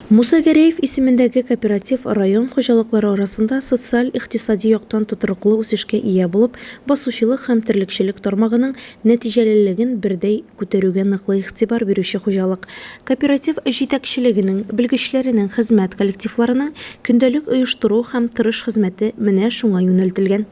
Муса Гәрәев исемендәге кооператив район хуҗалыклары арасында социаль-икътисади яктан тотрыклы үсешкә ия булып, басучылык һәм терлекчелек тармагының нәтиҗәлелеген бердәй күтәрүгә ныклы игътибар бирүче хуҗалык. Кооператив җитәкчелегенең, белгечләренең, хезмәт коллективларының көндәлек оештыру һәм тырыш хезмәте менә шуңа юнәлтелгән.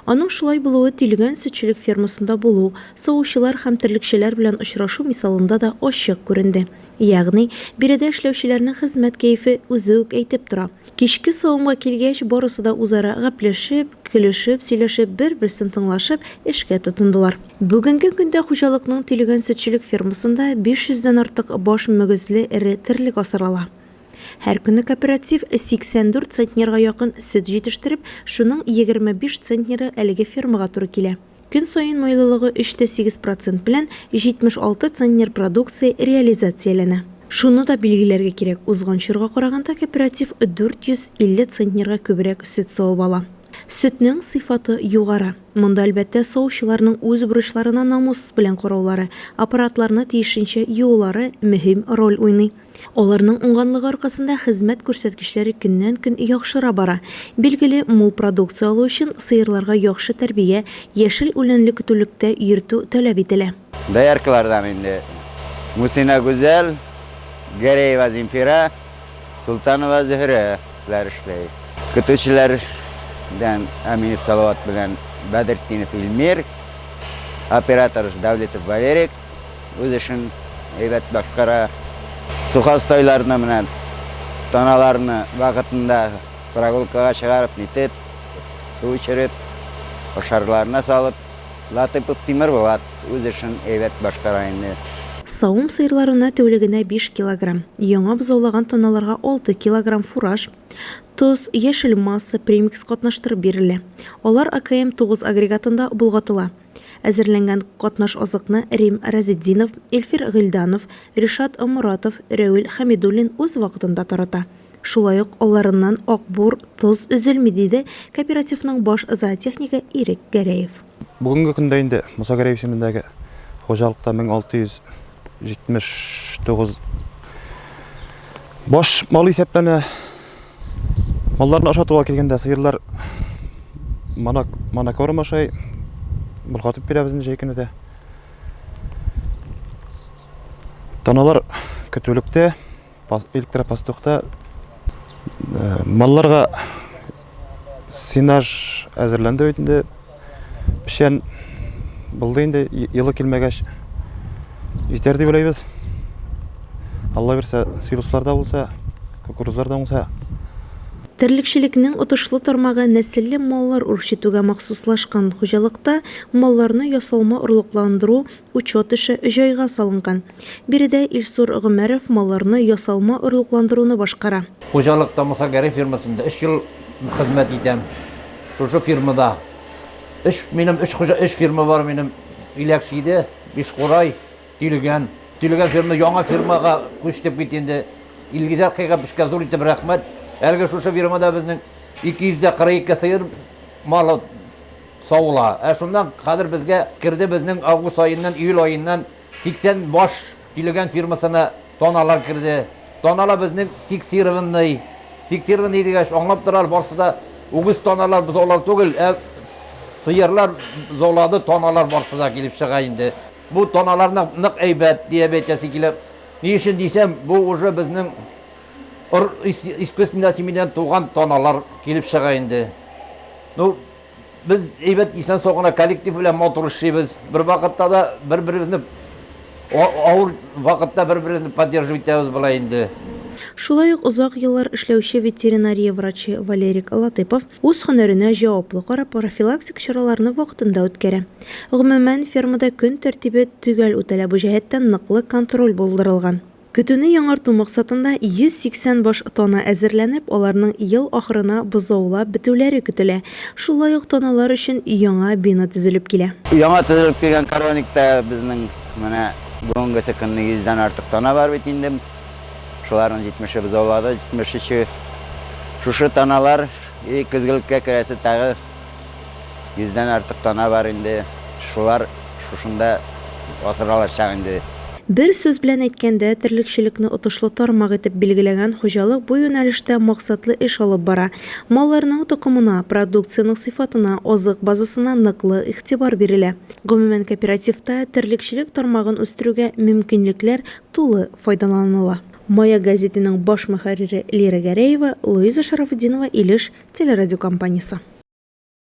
Аның шулай булуы Тилгән сөтчелек фермасында булу, савучылар һәм терлекчеләр белән очрашу мисалында да ачык күренде. Ягъни, биредә эшләүчеләрнең хезмәт кәефе үзе үк әйтеп тора. Кичке савымга килгәч, барысы да үзара гәпләшеп, көлешеп, сөйләшеп, бер-берсен тыңлашып, эшкә тотындылар. Бүгенге көндә хуҗалыкның Тилегән сөтчелек фермасында 500 дән артык баш мөгезле эре терлек асрала. Һәр көнне кооператив 84 центнерга якын сөт җитештереп, шуның 25 центнеры әлеге фермага туры килә. Көн саен майлылыгы 3-8 процент белән 76 центнер продукция реализацияләнә. Шуны да билгеләргә кирәк, узган чорга караганда кооператив 450 центнерга күбрәк сөт савып ала. Сөтнең сыйфаты югары. Монда, әлбәттә, савучыларның үз бурычларына намус белән караулары, аппаратларны тиешенчә юулары мөһим роль уйный. Аларның уңганлыгы аркасында хезмәт күрсәткечләре көннән-көн яхшыра бара. Билгеле, мул продукция алу өчен сыерларга яхшы тәрбия, яшел үләнле көтүлектә йөртү таләп ителә. Дояркалардан инде Мусина Гүзәл, Гәрәева Земфира, Солтанова Зөһрә ләр эшләй. Көтүчеләр дән Әминев Салават белән Бәдретдинов Илмир, оператор Дәүлетов Валерик, үз эшен әйбәт башкара. Сухостайларны менә таналарны вакытында прогулкага чыгарып, нитеп, су эчереп, ашарларына салып, Латыйпов Тимер Булат үз эшен әйбәт башкара инде. Савым сыерларына тәүлегенә биш килограмм, яңа бозаулаган таналарга алты килограмм фураж, тоз, яшел масса, премикс катнаштырып бирелә. Алар АКМ-9 агрегатында болгатыла. Әзерләнгән катнаш азыкны Рим Разетдинов, Илфир Гыйльданов, Ришат Оморатов, Рәвил Хәмидуллин үз вакытында тарата. Шулай ук аларыннан ак бур, тоз өзелми, диде кооперативның баш зоотехнигы Ирек Гәрәев. Бүгенге көндә инде Муса Гәрәев исемендәге хуҗалыкта 1600 79 баш мал исәпләнә. Малларны ашатуга килгәндә сыерлар манак манакорм ашай. Болгатып бирәбез инде җәй көне дә. Таналар көтүлектә. Электропастухта малларга сенаж әзерләнде бит инде. Печән булды инде, елы килмәгәч җитәр дип уйлыйбыз. Алла бирсә, силослар да булса, кукурузлар да уңса. Терлекчелекнең отышлы тармагы нәселле маллар үрчетүгә махсуслашкан хуҗалыкта малларны ясалма орлыкландыру, Учет эше җайга салынган. Биредә Илсур Гомәров малларны ясалма орлыкландыруны башкара. Хуҗалыкта Муса Гәрәй фирмасында өч ел хезмәт итәм. Шушы фирмада өч, минем өч хуҗа, өч фирма бар минем. Иләк чиде, Бишкурай, Тилегән. Тилегән фирма яңа фирмага күчтек бит инде. Илгиз Әхкәйгә бешкә зур итеп рәхмәт. Әлеге шушы фирмада безнең 242 сыер малы. Савыла. Ә шуннан хәзер безгә керде безнең август аеннан, июль аеннан 80 баш килогән фирмасына таналар керде. Танала безнең фиксированный. Фиксированный дигәч, аңлап торалар, барсы да үгез таналар бозаулар түгел, ә сыерлар бозаулады таналар барсы да килеп чыга инде. Бу таналарны нык әйбәт диеп әйтәсе килә. Ни өчен дисәм, бу уже безнең ыр искусственная семенядан туган таналар килеп чыга инде. Ну, Без әйбәт исән-сау гына коллектив белән матур эшлибез. Бервакытта да бер-беребезне авыр вакытта бер-беребезне поддерживать итәбез болай инде. Шулай ук озак еллар эшләүче ветеринария врачы Валерик Латыпов үз һөнәренә җаваплы карап, профилактик чараларны вакытында үткәрә. Гомумән, фермада көн тәртибе төгәл үтәлә, бу җәһәттән ныклы контроль булдырылган. Көтүне яңарту максатында 180 баш тана әзерләнеп, аларның ел ахырына бозаулап бетүләре көтелә. Шулай ук таналар өчен яңа бина төзелеп килә. Яңа төзелеп килгән коровникта безнең менә бүгенгесе көнне 100 дән артык тана бар бит инде. Шуларның 70-е бозаулады, 73-е. Шушы таналар и көзгелеккә керәсе тагы. Йөздән артык тана бар инде. Шулар шушында асра алачак инде. Бер сүз белән әйткәндә, терлекчелекне отышлы тармак итеп билгеләгән хуҗалык бу юнәлештә максатлы эш алып бара. Малларның токымына, продукциянең сыйфатына, азык базасына ныклы игътибар бирелә. Гомумән, кооперативта терлекчелек тармагын үстерүгә мөмкинлекләр тулы файдаланыла. Мая гәзитенең баш мөхәррире Лира Гәрәева, Луиза Шарафутдинова Илеш телерадиокомпаниясе.